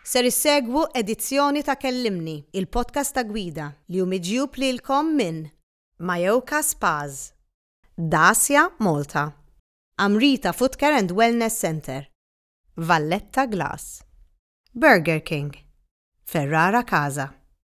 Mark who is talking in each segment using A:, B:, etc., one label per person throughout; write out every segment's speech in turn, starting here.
A: Ser issegwu edizzjoni ta' Kellimni, il-podcast ta' gwida, li hu miġjub lilkom minn. Mayoka Spas. Dacia Malta. Amrita Footcare and Wellness Centre. Valletta Glass. Burger King. Ferrara Casa.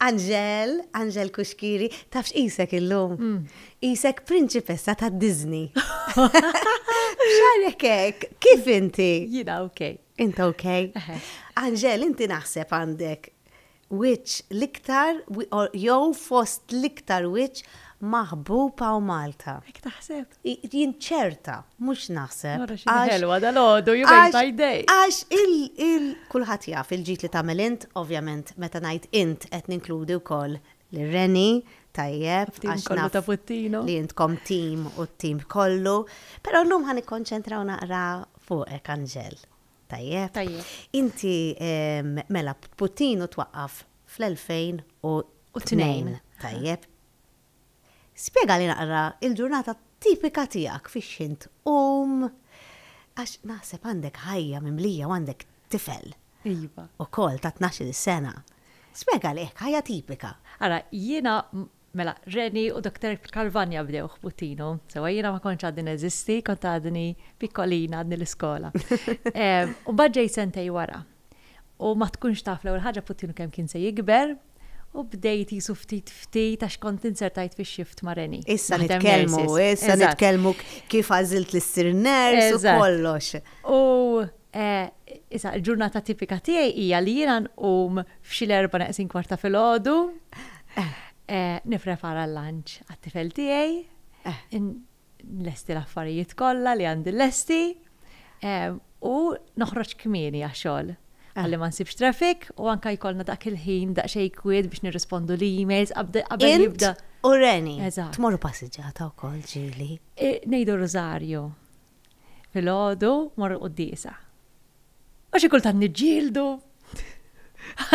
A: Angel, Angel Kuxkiri, taf x'qisek illum? Mm. Qisek prinċipessa ta' Disney. X'għalek hekk? Kif inti? Jiena ok.
B: Inta ok?
A: Angel, inti naħseb għandek wiċċ l-iktar jew fost l-iktar wiċċ Maħbuba u Malta. Hekk taħseb?
B: Jien ċerta,
A: mhux naħseb. Ara x'inhi ħelwa
B: dalgħodu, you made my day! Għax
A: kulħadd jaf il-ġid li tagħmel int, ovvjament meta ngħid int qed ninkludi wkoll lil Reni, tajjeb, għax naf
B: li intkom tim
A: u t-tim kollu. Però llum ħa nikkonċentraw naqra fuqek, Anġel. Tajjeb? Tajjeb. Inti mela Putin u twaqqaf fl-2002. Tajjeb. Spjegali naqra l-ġurnata tipika tiegħek fix-x'ħin tqum għax naħseb għandek ħajja mimlija u għandek tifel. Iva.
B: Ukoll ta' tnax-il
A: sena. Spjegali hekk ħajja tipika. Ara, jiena
B: Mela, Reni u Doktor Calvagna bdew ħbutinu. Sewwa jiena ma kontx għadni neżisti, kont għadni pikkolina, għadni l-iskola. U mbagħad ġejt sentejn wara. U ma tkunx taf l-ewwel ħaġa ħbutinu kemm kien se jikber, u bdejt qisu ftit ftit għax kont inzertajt fix-shift ma' Reni. Issa nitkellmu,
A: issa nitkellmu kif għażilt li ssir nurse u kollox. U
B: E, issa, il-ġurnata tipika tiegħi hija li jiena nqum f'xi l-erba' neqsin kwart ta' filgħodu, e, nipprepara l-lanċ għat-tifel tiegħi, nlesti l-affarijiet kollha li għandi lesti, e, u noħroġ kmieni għax-xogħol ħalli ma nsibx traffic u anke jkollna dak il-ħin daqsxejn kwiet biex nirrispondu l-emails qabda- qabel Int jibda. u Reni.
A: Eżatt. Tmorru passiġġata wkoll ġieli. E, Ngħidu
B: r-rużarju. Filgħodu mor il-quddiesa. U xi kultant niġġieldu.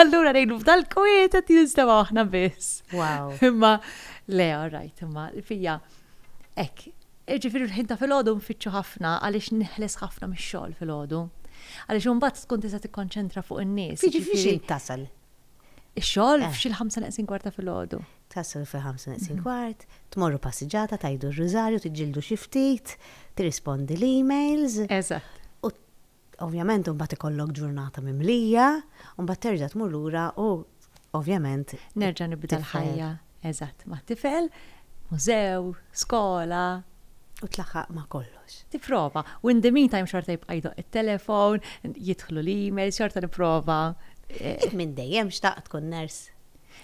B: Allura ngħidu f'dal-kwiet qed jinstema' aħna biss. Wow. Imma le, all right, imma fija hekk Ġifiri l-ħin ta' filgħodu nfittxu ħafna għaliex neħles ħafna mix-xogħol filgħodu. Għaliex imbagħad tkun tista' tikkonċentra fuq in-nies. Jiġifieri xi tasal?
A: Ix-xogħol
B: eh. f'xi l-ħamsa neqsin kwarta filgħodu. Taslu fil-ħamsa
A: neqsin kwart, tmorru passiġġata, tgħidu r-Rużarju, tiġġieldu xi ftit, tirrispondi l-emails. Eżatt. U ovvjament imbagħad ikollok ġurnata mimlija, u mbagħad terġa' tmur lura u ovvjament. Nerġa' nibda
B: l-ħajja. Eżatt, mat-tifel, mużew, skola. U
A: tlaħħaq ma' kollox. Tipprova. U in
B: the meantime xorta jibqa' jdoqq it-telefon, jidħlu l-emails, xorta nipprova. Int minn
A: dejjem xtaqt tkun nurse?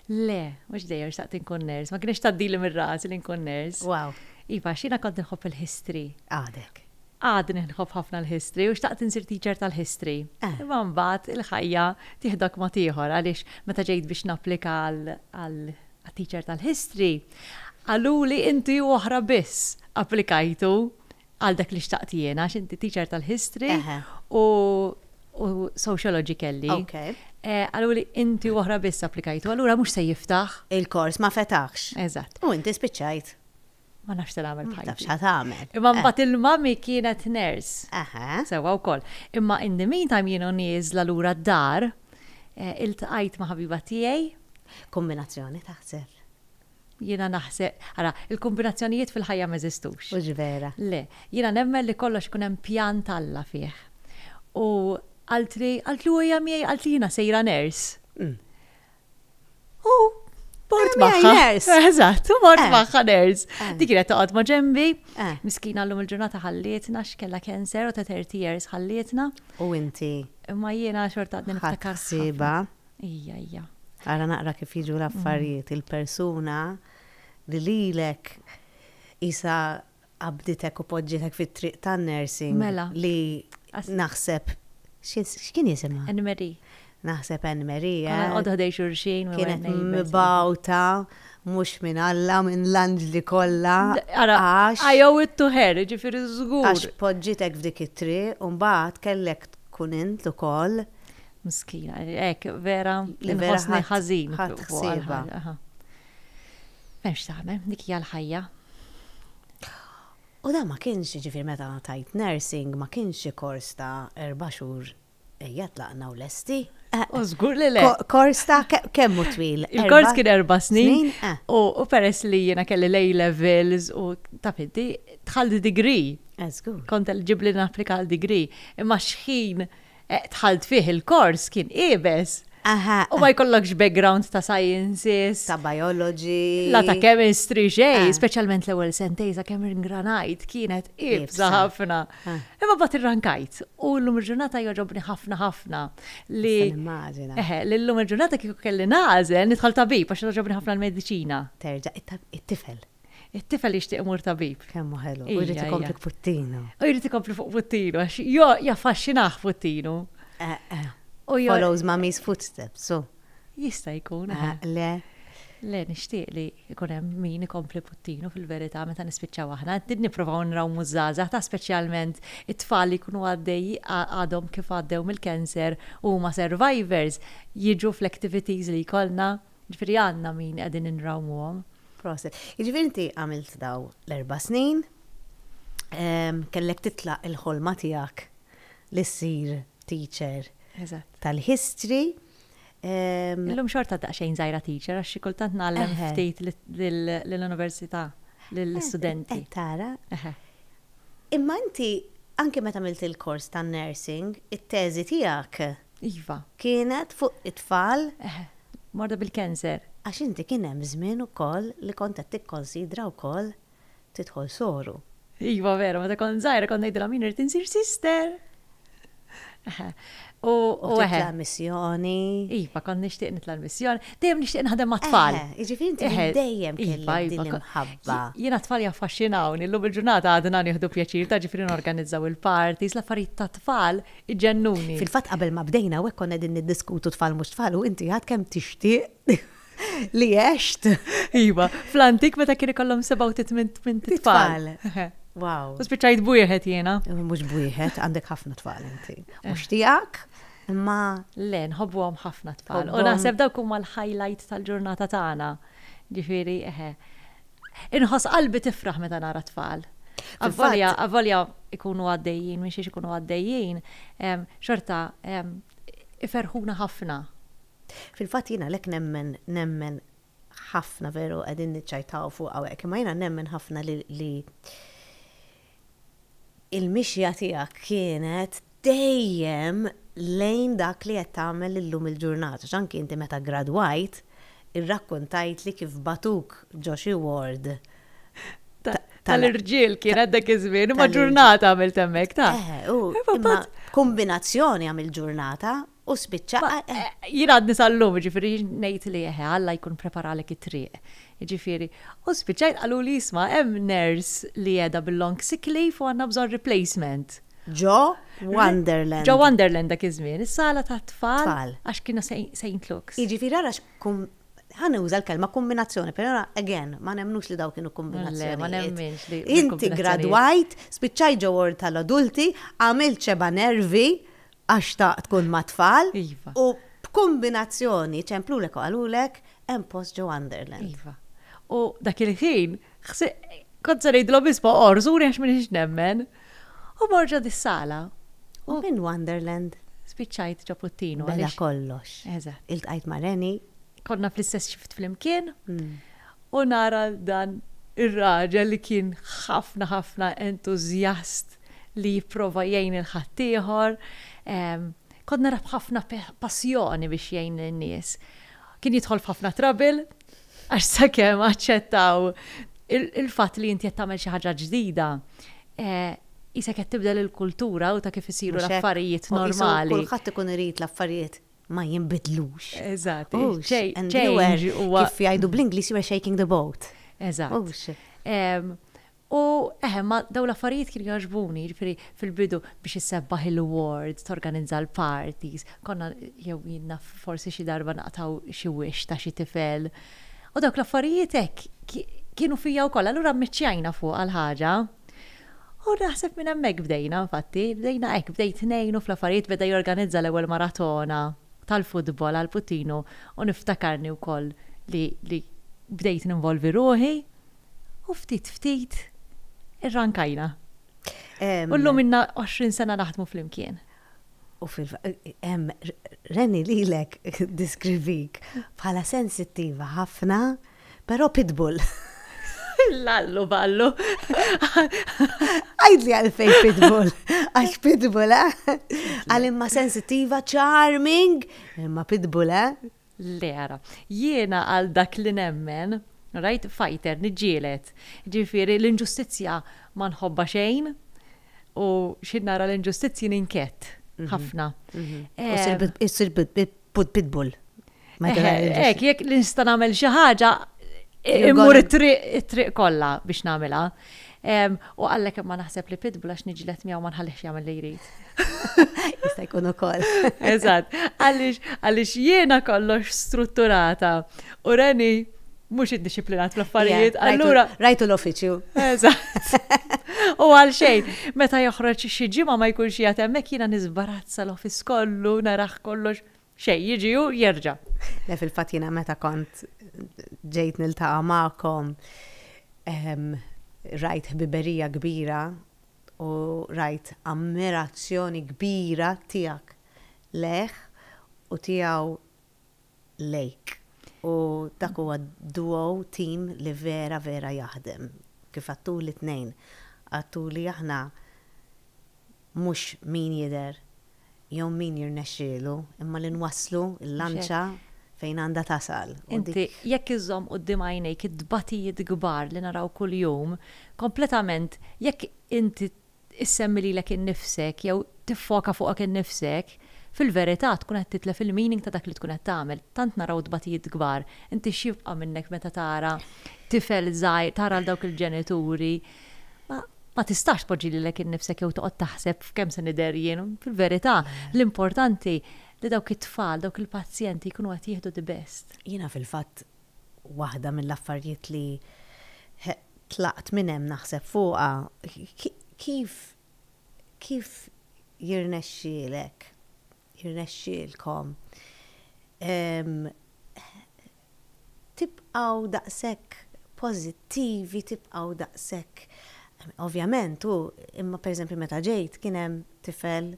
A: Le,
B: mhux dejjem xtaqt inkun ners, ma kienx tgħaddili mir-ras li nkun ners. Wow. Iva,
A: xina kont
B: nħobb il-history. Għadek.
A: Għadni nħobb
B: ħafna l-history u xtaqt insir teacher tal-history. Eh. Imma mbagħad il-ħajja tieħdok ma tieħor għaliex meta ġejt biex napplika għal teacher tal-history, qaluli inti oħra biss applikajtu Għal dak li xtaqt jiena, għax inti teacher tal-history u sociology kelli. Eh, għallu li inti uħra biss applikajtu, għallura mux se jiftaħ. Il-kors ma fetaħx.
A: Eżatt. U inti
B: spiċajt.
A: Ma nafx tal
B: għamil bħajti. Tafx għamil. Imma eh.
A: mbat il-mami
B: kienet nurse. Aha. Sewa u koll. Imma in the meantime jienu nizla l-ura d-dar, eh, il-tqajt ma ħabiba tijaj. Kombinazzjoni
A: taħseb. Jiena
B: naħse, ara, il-kombinazzjonijiet fil-ħajja m'eżistux. Hux vera. Le.
A: Jiena nemmen
B: li kollox ikun hemm pjan t'Alla fih. U qaltli, qaltli u hija miegħi, qaltli jiena sejra nurse. U mort magħha. Mort magħha nurse. Eżatt, u mort magħha nurse. Dik kienet toqgħod ma' ġenbi. Miskina llum il-ġurnata ħallietna x'kellha cancer u ta' 30 years ħallietna. U inti?
A: Imma jiena
B: xorta għadni niftakar. Ħadd ħsiebha.
A: Ejja, ejja.
B: Ara naqra
A: kif jiġu l-affarijiet, il-persuna li lilek qisha qabbditek u poġġietek fit-triq tan-nursing li naħseb x'kien jisimha? Anne Marie.
B: Naħseb Anne
A: Marie. Konna nqogħdu ħdejn xulxin.
B: Kienet
A: mibgħuta mhux minn Alla, minn l-anġli kollha. Ara,
B: I owe it to her, ġifieri żgur. Għax poġġietek
A: f'dik it-triq u mbagħad kellek tkun int ukoll Miskina,
B: hekk vera li vera ħassni ħażin. Ħadd ħsieba.
A: M'hemmx
B: tagħmel, dik hija l-ħajja.
A: U da ma kienx ġifir meta tajt nursing ma kienx xi kors ta' erba' xhur ejja tlaqna u lesti. Eh, u żgur li
B: le. Kors ta' kemm
A: hu twil? Il-kors kien erba'
B: snin. Eh. U peress li jiena kelli lej levels u ta' fiddi, tħalli degree. Eh, żgur. Kont
A: ġibli napplika
B: għal degree. Imma xħin Dħalt fih il-kors kien iebes. U ma jkollokx background ta' sciences. Ta' biology.
A: La ta' chemistry,
B: xejn. Speċjalment l-ewwel sentejn sakemm ingranajt kienet iebsa ħafna. Imma mbagħad irrankajt u llum il-ġurnata jogħġobni ħafna ħafna li. Nista' nimmaġina. Eħe, li llum il-ġurnata kieku kelli nagħżel nidħol tabib għax togħġobni ħafna l-mediċina. Terġa'
A: it-tifel. It-tifel jixtieq
B: imur tabib. Kemm hu ħelu. U jrid
A: ikompli fuq puttinu. U jrid ikompli fuq
B: puttinu għax jo jaffaxxinah puttinu. Eh, eh. U
A: jo. Follows mommy's footsteps, so. Jista' jkun.
B: Eh, eh. Le. Le, nixtieq li jkun hemm min ikompli puttinu fil-verità meta nispiċċaw aħna. Qed nippruvaw nraw mużżaża ta' speċjalment it-tfal li jkunu għaddej għadhom kif għaddew mill-cancer u ma survivors jiġu fl-activities li jkollna Ġifieri għandna min qegħdin inrawmuhom. Proset.
A: Jiġifieri inti għamilt dawn l-erba' snin, kellek titlaq il-ħolma tiegħek li ssir teacher tal-History.
B: Illum xorta daqsxejn żgħira teacher għax xi kultant ngħallem ftit lill-università, lill-istudenti. Eh, tara.
A: Imma inti anke meta għamilt il-kors tan-nursing, it-teżi tiegħek Iva.
B: Kienet fuq
A: it-tfal? Eh, morda
B: bil-cancer. Għax inti kien hemm
A: żmien ukoll li kont qed tikkonsidra wkoll tidħol soru. Iva veru,
B: meta kont żgħira kont ngħidilhom jien irrid insir sister. Eħe. U U eħe. titla'
A: missjoni. Iva, kont nixtieq
B: nitla' l-missjoni. Dejjem nixtieq naħdem mat-tfal. Eħe, jiġifieri inti Eħe. minn
A: dejjem Iva, kellek iva, din ko- l-imħabba. Jiena t-tfal
B: jaffaxxinawni, llum il-ġurnata għadna nieħdu pjaċir ta' ġifieri norganizzaw il-parties, l-affarijiet tat-tfal Iġennuni! Fil-fatt qabel ma bdejna
A: hawnhekk konna qegħdin niddiskutu tfal mhux tfal u inti għad kemm tixtieq li għext. Iva,
B: fl-antik meta kien ikollhom sebgħa u tmint tmint tfal. Wow. U
A: spiċċajt b'wieħed
B: jiena. Mhux b'wieħed,
A: għandek ħafna tfal inti. Mhux eh. tiegħek, imma. Le, nħobbuhom
B: ħafna tfal. U naħseb dawk huma l-highlight tal-ġurnata tagħna. Ġifieri, eħe. Inħoss qalbi tifraħ meta nara tfal. Avolja, avolja ikunu għaddejjin, minn xiex ikunu għaddejjin, xorta iferħuna ħafna. Fil-fat
A: jina lek nemmen, nemmen ħafna veru għedin nċajtaw fuq għawek, ma jina nemmen ħafna li il-mixja tiegħek kienet dejjem lejn dak li qed tagħmel illum il-ġurnata għax anki inti meta ggradwajt irrakkuntajtli kif bagħtuk ġo xi ward tal-irġiel
B: kienet dak iż-żmien, imma ġurnata għamilt hemmhekk ta'. Eħe, u
A: kombinazzjoni għamilt ġurnata U spiċċa. Jien għadni
B: sal-lum, jiġifieri ngħid li eħe, Alla jkun preparalek it-triq. Jiġifieri, u spiċċajt qaluli isma' hemm nurse li qiegħda bil-long sick leave u għandna bżonn replacement. Ġo
A: Wonderland. Ġo Wonderland dak
B: iż-żmien, is-sala tat-tfal. Tfal. Għax kienu Saint Luke's. Jiġifieri ara x'kum,
A: ħa nuża l-kelma kumbinazzjoni, però again, ma nemmnux li dawn kienu kumbinazzjonijiet. Le, ma nemminx li.
B: Inti gradwajt,
A: spiċċajt ġo ward tal-adulti, għamilt xebgħa nervi, Għax taqgħad tkun mat-tfal. Iva. U b'kumbinazzjoni ċemplulek u qalulek hemm post ġo Underland. Iva. U
B: dak il-ħin kont se ngħidilhom isma' orzuni għax m'iniex nemmen. U mor ġo dis-sala. U minn
A: Wonderland. Spiċċajt ġo
B: Puttinu. Beda kollox.
A: Eżatt. Iltqajt ma'
B: Reni.
A: Konna fl-istess
B: xift flimkien. U nara dan ir-raġel li kien ħafna ħafna entużjast li jipprova jgħin lil ħaddieħor. Kont narah b'ħafna passjoni biex jgħin lin-nies. Kien jidħol f'ħafna trouble għax sakemm aċċettaw il-fatt li inti qed tagħmel xi ħaġa ġdida, qisek qed tibdel il-kultura u ta' kif isiru l-affarijiet normali. Kulħadd ikun irid
A: l-affarijiet ma jinbidlux.
B: Eżatt.
A: Kif jgħidu bl-Ingliż, you are shaking the boat. Eżatt.
B: U eħe, ma dawn l-affarijiet kienu jogħġbuni, jiġifieri fil-bidu biex issebbaħ il-wards, torganizza l-parties, konna jew jien naf forsi xi darba naqtgħu xi wix ta' xi tifel. U dawk l-affarijiet hekk kienu fija wkoll, allura mmiċċjajna fuqha l-ħaġa. U naħseb minn hemmhekk bdejna infatti, bdejna hekk, bdejt ngħinu fl-affarijiet, beda jorganizza l-ewwel maratona tal-futbol għall-puttinu u niftakarni wkoll li bdejt ninvolvi ruħi u ftit ftit irrankajna. U llum inna 20 sena naħdmu flimkien. U fil
A: hemm Reni lilek diskrivik bħala sensittiva ħafna, però pitbull.
B: Lallu ballu.
A: Għajdli għalfej pitbull. Għax pitbull, eh? Għal imma sensittiva, charming, imma pitbull, eh? Le, ara,
B: jiena għal dak li nemmen, rajt, fighter, niġġieled. Jiġifieri l-inġustizzja ma nħobbha xejn u xi nara l-inġustizzji ninkett ħafna.
A: Issir pitbull.
B: Hekk, jekk nista' nagħmel xi ħaġa, immur it-triq kollha biex nagħmilha. U għallek imma naħseb li pitbull għax niġlet miegħu ma nħallix jagħmel li jrid. Jista'
A: jkun ukoll. Eżatt,
B: għaliex għaliex jiena kollox strutturata u reni mhux iddixxiplinat fl-affarijiet. Allura rajtu l-uffiċċju.
A: Eżatt.
B: U għal xejn, meta joħroġ xi ġimgħa ma jkunx jagħtem hekk jiena nisbarazza l-office kollu, naraħ kollox Xejn, jiġi hu jerġa'. Le fil-fatt jiena
A: meta kont ġejt niltaqa' magħkom ehm, rajt ħbiberija kbira u rajt ammirazzjoni kbira tiegħek lejh u tiegħu lejk. U dak huwa duo tim li vera vera jaħdem. Kif għattuli tnejn, għattuli aħna mhux min jidher jew min jirnexxielu, imma li nwasslu l-lanċa fejn għandha tasal. Inti jekk
B: iżżomm quddiem għajnejk it-tbatijiet kbar li naraw kuljum, kompletament jekk inti issemmi lilek innifsek jew tiffoka fuqek innifsek, fil-verità tkun qed titlef il-meaning ta' dak li tkun qed tagħmel. Tant naraw tbatijiet kbar, inti x'jibqa' minnek meta tara tifel żgħir, tara lil dawk il-ġenituri Ma, ma tistax tpoġġi lilek innifsek jew toqgħod taħseb f'kemm se nidher jien. Fil-verità, l-importanti li dawk it-tfal, dawk il-pazjenti jkunu qed jieħdu the best. Jiena fil-fatt
A: waħda mill-affarijiet li tlaqt minn hemm naħseb fuqha, kif, kif jirnexxielek, jirnexxielkom tibqgħu daqshekk pożittivi, tibqgħu daqshekk, ovvjament hu, imma pereżempju meta ġejt kien hemm tifel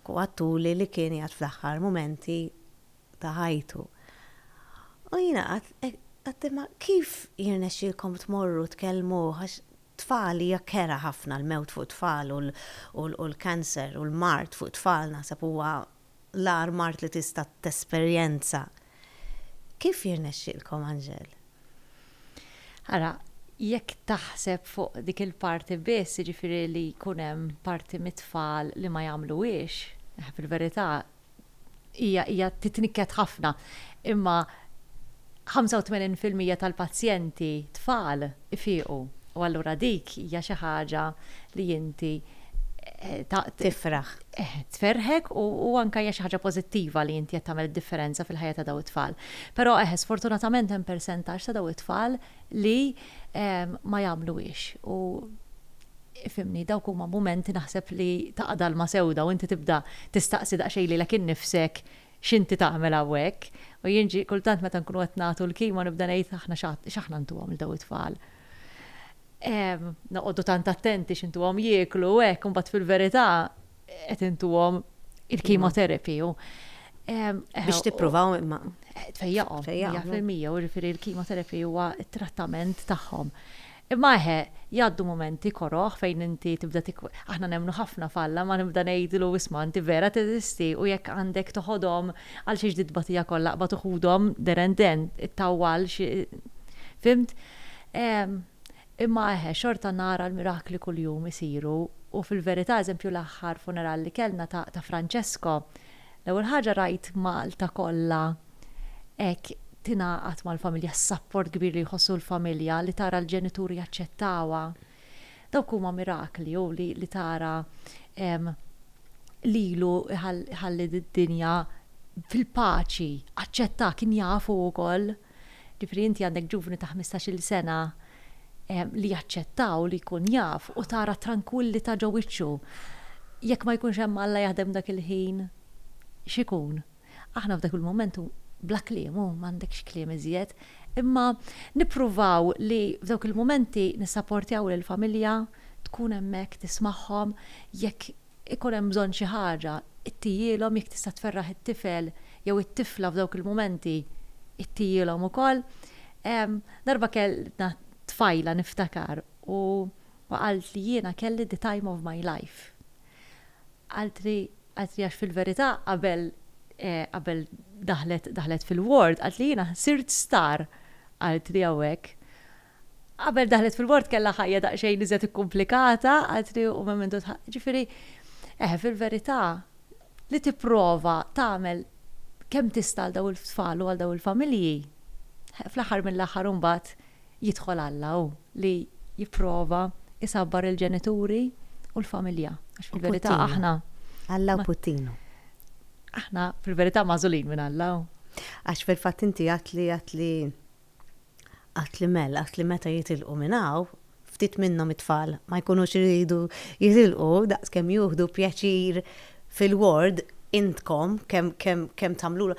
A: għattuli li kien qiegħed fl-aħħar mumenti ta' ħajtu. U jiena qatt imma kif jirnexxilkom tmorru tkellmuh għax tfal hija kera ħafna l-mewt fuq tfal u l-cancer u l-mard fuq tfal naħseb huwa l-agħar mard li tista' tesperjenza. Kif jirnexxielkom, Anġel?
B: Ara, jekk taħseb fuq dik il-parti biss, jiġifieri li jkun hemm parti mit-tfal li ma jagħmluhiex, fil-verità hija titnikket ħafna. Imma 85 fil-mija tal-pazjenti tfal ifiequ u allura dik hija xi ħaġa li inti
A: tifraħ,
B: tferrħek u anke hija xi ħaġa pożittiva li inti qed tagħmel id-differenza fil-ħajja ta' dawn it-tfal. Però eħe sfortunatament hemm persentaġġ ta' dawn it-tfal li ma jagħmluhiex u ifhimni dawk huma mumenti naħseb li taqa' dalma sewda u inti tibda tistaqsi daqsxejn lilek innifsek X'inti tagħmel hawnhekk? U jien ġie kultant meta nkunu qed nagħtu l-kimo nibda ngħid aħna x'aħna ntuhom lil dawn it-tfal. Noqogħdu tant attenti x'intuhom jieklu u hekk u mbagħad fil-verità qed intuhom il-chemotherapy u
A: Biex tippruvaw imma. Tfejjaqhom.
B: Tfejjaqhom. Fil-mija, u ġifieri l-chemotherapy huwa t-trattament tagħhom. Imma eħe, jgħaddu mumenti koroh fejn inti tibda tik. Aħna nemmnu ħafna f'Alla ma nibda ngħidlu isma' inti vera teżisti u jekk għandek toħodhom għal xiex titbatija kollha qbad u ħudhom then and then, ittawwal xi Fhimt? Ehm, imma eħe, xorta nara l-mirakli kuljum isiru u fil-verità eżempju l-aħħar funeral li kellna ta' ta' Francesco, l-ewwel ħaġa rajt Malta kollha Hekk tingħaqad mal-familja s-sapport kbir li jħossu l-familja li tara l-ġenituri jaċċettawha. Dawk huma mirakli u li li tara lilu ħalli d-dinja fil-paċi, aċċettah, kien jafu wkoll. Ġifieri inti għandek ġuvni ta' ħmistax-il sena li jaċċettaw li jkun jaf u tara t-trankwillità ġo wiċċu. Jekk ma jkunx hemm Alla jaħdem dak il-ħin, x'ikun? Aħna f'dak il-mument u bla kliem, hu m'għandekx kliem iżjed, imma nippruvaw li f'dawk il-mumenti nissaportjaw lill-familja, tkun hemmhekk tismagħhom, jekk ikun hemm bżonn xi ħaġa għtijielhom, jekk tista' tferraħ it-tifel jew it-tifla f'dawk il-mumenti għtijielhom ukoll. Darba kellna tfajla niftakar u qaltli jiena kelli the time of my life. Qaltli qaltli għax fil-verità qabel qabel daħlet daħlet fil-ward qaltli jiena sirt star qaltli hawnhekk. Qabel daħlet fil-ward kellha ħajja daqsxejn iżjed ikkumplikata qaltli u mementu tħa ġifieri eħe fil-verità li tipprova tagħmel kemm tista' għal dawn it-tfal u għal dawn il-familji fl-aħħar mill-aħħar imbagħad Jidħol Alla hu li jipprova jsabbar il-ġenituri u l-familja. Għax fil-verità aħna. Alla hu puttinu.
A: Aħna
B: fil-verità magħżulin minn Alla hu. Għax fil-fatt
A: inti għedt li għedt li għedt li mell għedt li meta jitilqu minn hawn, ftit minnhom it-tfal ma jkunux iridu jitilqu daqskemm juħdu pjaċir fil-ward intkom kemm kemm kemm tagħmlulhom.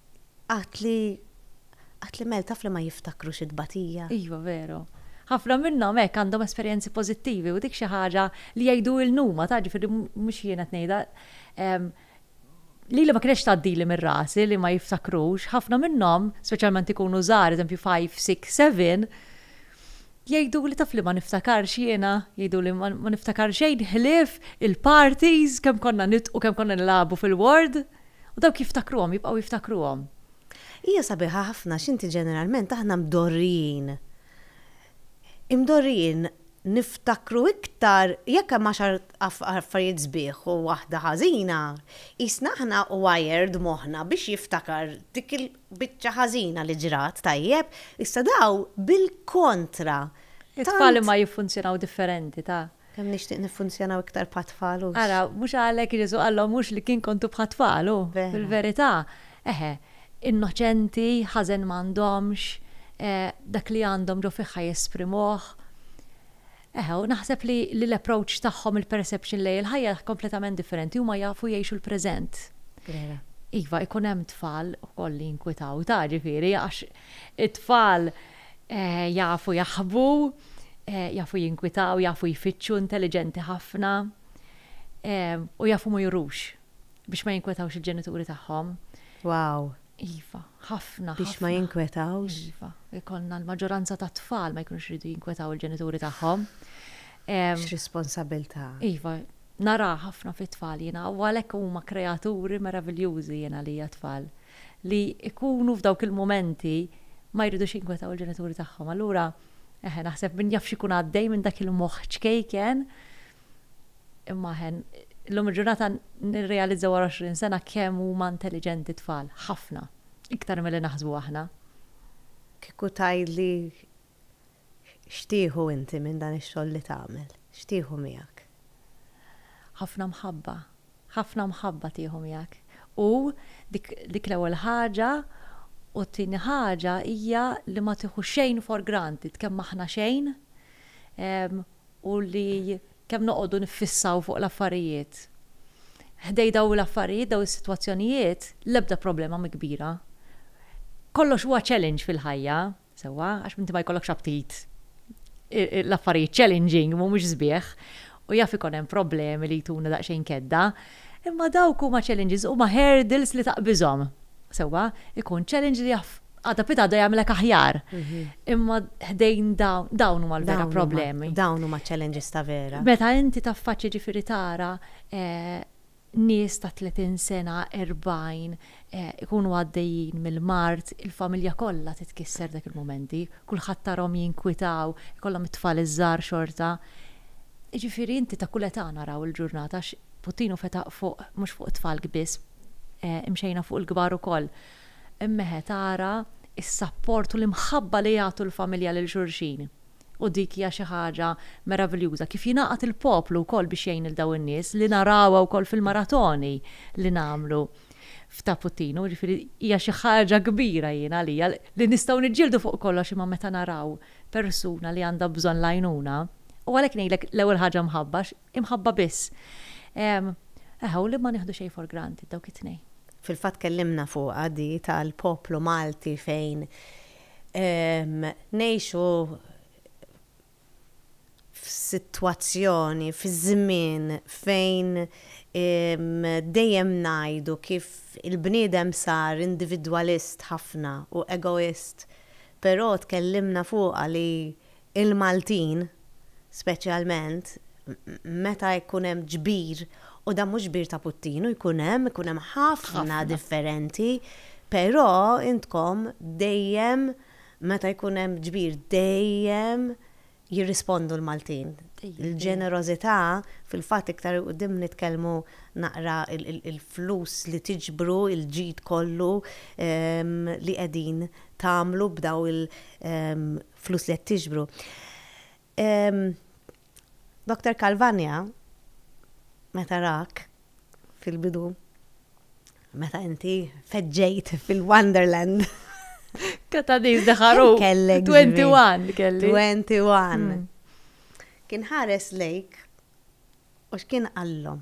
A: Għad li għad li mel taf li ma jiftakrux it-tbatija. Iva veru.
B: Ħafna minnhom hekk għandhom esperjenzi pożittivi u dik xi ħaġa li jgħidulna huma taf ġifieri mhux jien qed ngħidha lili ma kinetx tgħaddili minn rasi li ma jiftakrux, ħafna minnhom speċjalment ikunu żgħar eżempju five, six, seven jgħiduli taf li ma niftakarx jiena jgħiduli ma niftakar xejn ħlief il-parties kemm konna nidqu kemm konna nilagħbu fil-ward. U dawk jiftakruhom, jibqgħu jiftakruhom. Hija
A: sabiħa ħafna għax inti ġeneralment aħna mdorrijin. Imdorrijin niftakru iktar jekk hemm għaxar affarijiet sbieħ u waħda ħażina, qisna aħna wired moħħna biex jiftakar dik il-biċċa ħażina li ġrat, tajjeb? Issa dawn bil-kontra. It-tfal
B: imma jiffunzjonaw differenti, taf. Kemm nixtieq niffunzjonaw
A: iktar bħat-tfal, hux? Ara, mhux għalhekk
B: Ġesù qalhom hux li kien kontu bħat-tfal, hu? Vera. Fil-verità, eħe, innoċenti, ħażen m'għandhomx, dak li għandhom ġo fihha jesprimuh. Eħe, u naħseb li li l-approach tagħhom, il-perception lejn il-ħajja hija kompletament differenti, huma jafu jgħixu l-preżent. Vera. Iva, ikun hemm tfal ukoll li jinkwitaw, ta' ġifieri, għax it-tfal Jafu jaħbu, jafu jinkwitaw, jafu jfittxu, intelliġenti ħafna, u jafu ma jurux biex ma jinkwetawx il-ġenituri tagħhom. Wow!
A: Iva,
B: ħafna. Biex ma jinkwetawx?
A: Iva, ikollna
B: l-maġġoranza tat-tfal ma jkunux iridu jinkwetaw il-ġenituri tagħhom. X'responsabbiltà!
A: Iva, nara
B: ħafna fit-tfal jiena, u għalhekk huma kreaturi meraviljużi jiena għalija t-tfal. li jkunu f'dawk il-mumenti ma jridux jinkwetaw il-ġenituri tagħhom. Allura, eħe, naħseb min jaf x'ikun għaddej minn dak il-moħħ ċkejken, imma eħe, illum il-ġurnata nirrealizza wara 20 sena kemm huma intelliġenti t-tfal, ħafna, iktar milli naħsbu aħna. Kieku
A: tgħidli X'tieħu inti minn dan ix-xogħol li tagħmel? X'tieħu miegħek?
B: Ħafna mħabba. Ħafna mħabba tieħu miegħek. U dik dik l-ewwel ħaġa u t-tieni ħaġa hija li ma tieħu xejn for granted, kemm aħna xejn u li kemm noqogħdu niffissaw fuq l-affarijiet. Ħdej dawn l-affarijiet, dawn is-sitwazzjonijiet, l-ebda problema mhi kbira. Kollox huwa challenge fil-ħajja. Sewwa, għax inti ma jkollokx aptit. L-affarijiet challenging mhumiex sbieħ u jaf ikun hemm problemi li jtuna daqsxejn kedda, imma dawk huma challenges, huma hurdles li taqbiżhom. Sewwa, ikun challenge li jaf għada pitgħada jagħmilek aħjar. Imma ħdejn dawn, dawn huma l-vera problemi. Dawn huma challenges
A: ta' vera. Meta inti taffaċċja
B: ġifieri tara, nies ta' 30 sena, 40, ikunu għaddejjin mill-mard, il-familja kollha titkisser dak il-mumenti, kulħadd tarahom jinkwitaw, ikollhom it-tfal iż-żgħar xorta. Jiġifieri inti ta' kull età naraw il-ġurnata għax Putin hu fetaq fuq mhux fuq it-tfalk biss, imxejna fuq il-kbar ukoll. Imma eħe tara s-sapport u l-imħabba li jagħtu l-familja lil xulxin. U dik hija xi ħaġa meraviljuża, kif jingħaqad il-poplu wkoll biex jgħin lil dawn in-nies, li narawha wkoll fil-maratoni li nagħmlu f'Ta' Puttinu, jiġifieri hija xi ħaġa kbira jien għalija, li nistgħu niġġieldu fuq kollox imma meta naraw persuna li għandha bżonn l-għajnuna, u għalhekk ngħidlek l-ewwel ħaġa mħabba, imħabba biss. Eħe, u li ma nieħdu xejn for granted, dawk it-tnejn. Fil-fatt tkellimna
A: fuqha di tal-poplu Malti fejn Ngħixu f'sitwazzjoni, fi żmien fejn dejjem ngħidu kif il-bniedem sar individwalist ħafna u egoist, però tkellimna fuqha li il-Maltin, speċjalment meta jkun hemm ġbir, u dan mhux ġbir ta' puttinu, jkun hemm, ikun hemm ħafna differenti, però intkom dejjem meta jkun hemm ġbir dejjem jirrispondu l-Maltin. Il-ġenerożità, fil-fatt iktar 'il quddiem nitkellmu naqra il-flus li tiġbru, il-ġid kollu li qegħdin tagħmlu b'dawn il- flus li qed tiġbru. Dr. Calvania, meta rak fil-bidu, meta inti feġġejt fil-Wonderland.
B: Kata diz daħaru. Kellek. 21 kelli. 21. Mm.
A: Kien ħares lejk u x'kien qallhom.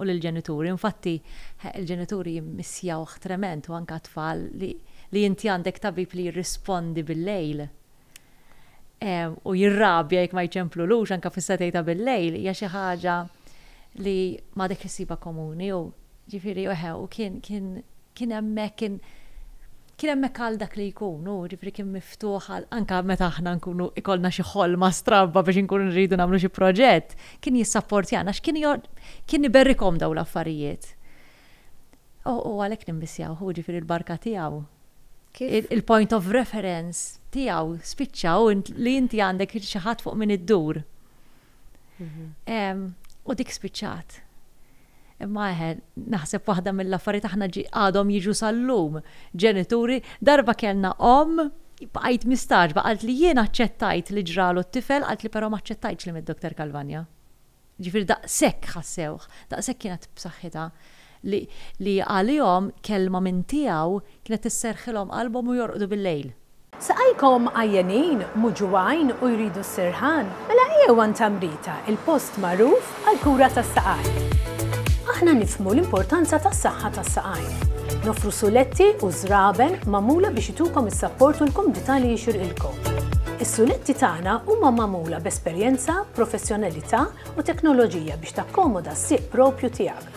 B: u lill-ġenituri. Infatti, il-ġenituri jimmissjawh trement u anke t-tfal li li inti għandek tabib li jirrispondi bil-lejl u jirrabja jekk ma jċemplulux anke fis-setgħi ta' bil-lejl hija xi ħaġa li m'għadek issibha komuni u ġifieri eħe u kien kien kien hemmhekk kien kien hemmhekk għal dak li jkun, hu jiġifieri kien miftuħ għal anke meta aħna nkunu ikollna xi ħolma stramba biex inkunu nridu nagħmlu xi proġett, kien jissapportjana għax kien kien iberrikhom dawn l-affarijiet. U u għalhekk nimmissjawh, hu jiġifieri l-barka tiegħu. Il-point of reference tiegħu spiċċa hu li inti għandek xi ħadd fuq min iddur. Mhm. U dik spiċċat. Imma eħe, naħseb waħda mill-affarijiet aħna għadhom jiġu sal-lum. Ġenituri, darba kellna om, bqajt mistaġba, għalt li jien aċċettajt li ġralu t-tifel, għalt li però ma aċċettajtx li mid-Dr. Kalvanja. Ġifir daqshekk ħassewh, daqshekk kienet b'saħħitha. li għalihom kelma minn tiegħu kienet isserrħilhom qalbhom u jorqdu bil-lejl. Saqajkom
C: għajjenin, mhu ġugħajn u jridu s-sirħan? Mela ejjew għand Tamrita, il-post magħruf għall-kura tas-saqajn. Aħna nifhmu l-importanza tas-saħħa tas-saqajn. Noffru suletti u żraben magħmula biex itukom is-sapport u l-kumdità li jixirqilkom. Is-suletti tagħna huma magħmula b'esperjenza, professjonalità u teknoloġija biex takkomoda s-sieq proprju tiegħek.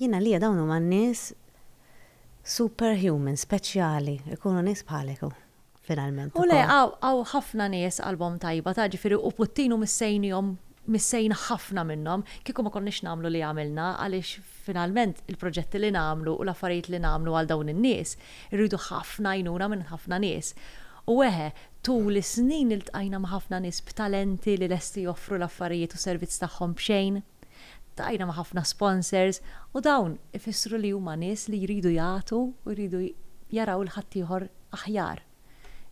A: Jien għalija dawn huma n-nies super human, speċjali, ikunu nies bħalek hu finalment ukoll. U le, hawn
B: ħafna nies qalbhom tajba, taf, ġifieri u Putin hu missejnihom, missejn ħafna minnhom, kieku ma konniex nagħmlu li għamilna għaliex finalment il-proġetti li nagħmlu u l-affarijiet li nagħmlu għal dawn in-nies irridu ħafna għajnuna minn ħafna nies. U eħe, tul is-snin iltqajna ma' ħafna nies b'talenti li lesti joffru l-affarijiet u s-servizz tagħhom b'xejn. Ltqajna ma' ħafna sponsors u dawn ifissru li huma nies li jridu jagħtu u jridu jaraw 'l ħaddieħor aħjar.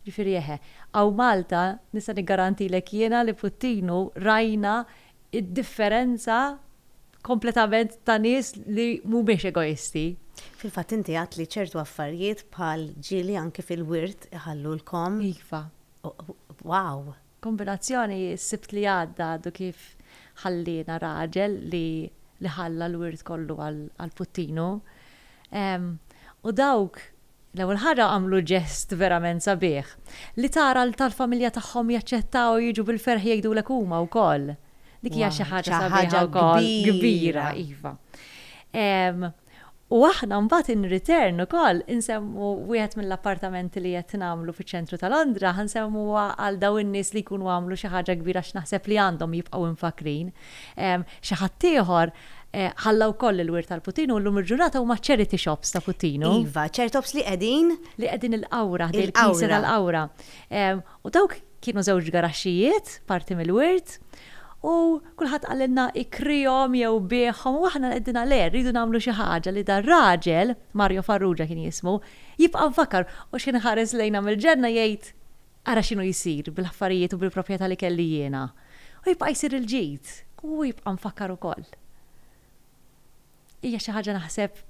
B: Ġifieri eħe, hawn Malta nista' niggarantilek jiena li Puttinu rajna d-differenza kompletament ta' nies li mhumiex egoisti. Fil-fatt inti
A: għedt li ċertu affarijiet bħal ġieli anki fil-wirt iħallulkom. Iva.
B: Wow!
A: Kombinazzjoni
B: s-Sibt li għadda għadu kif ħalliena raġel li li ħalla l-wirt kollu għal puttinu. U dawk l-ewwel ħaġa għamlu ġest verament sabiħ. Li tara l tal-familja tagħhom jaċċettaw u jiġu bil-ferħ jgħidulek huma wkoll. Dik hija xi ħaġa sabiħa wkoll. Kbira. Iva. U aħna mbagħad in return ukoll insemmu wieħed mill-appartamenti li qed nagħmlu fiċ-ċentru ta' Londra ħa nsemmuha għal dawn in-nies li jkunu għamlu xi ħaġa kbira għax naħseb li għandhom jibqgħu imfakkrin. Xi ħadd ieħor ħalla wkoll il-wirt għal Putinu u llum il-ġurnata huma ċ-charity shops ta' Putinu. Iva, ċertops li
A: qegħdin. Li qegħdin il-Qawra, ħdejn il-Knisja
B: tal-Qawra. U dawk kienu żewġ garaxxijiet, parti mill-wirt, u kulħadd qalilna ikrihom jew biegħhom u aħna għedna le, rridu nagħmlu xi ħaġa li dar-raġel, Mario Farrugia kien jismu, jibqa' mfakkar u x'kien iħares lejna mill-ġenna jgħid, ara x'inhu jsir bil-affarijiet u bil-proprjetà li kelli jiena. U jibqa' jsir il-ġid, u hu jibqa' mfakkar ukoll. Hija xi ħaġa naħseb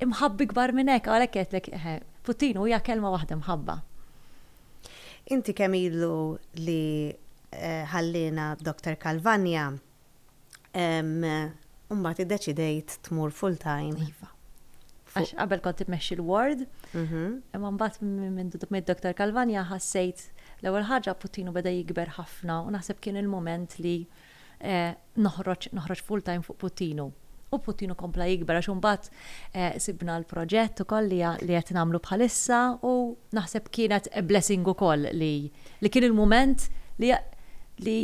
B: imħabba ikbar minn hekk, għalhekk għedtlek eħe, puttinu hija kelma waħda mħabba.
A: Inti kemm ilu li ħalliena Doctor Calvagna u mbagħad iddeċidejt tmur full time? Iva.
B: Għax qabel kont immexxi l-ward, imma mbagħad minn mid Doctor Calvagna ħassejt l-ewwel ħaġa puttinu beda jikber ħafna u naħseb kien il-mument li noħroġ, noħroġ full time fuq Puttinu. U Puttinu kompla jikber għax imbagħad sibna l-proġett ukoll li qed nagħmlu bħalissa u naħseb kienet a blessing ukoll li li kien il-mument li li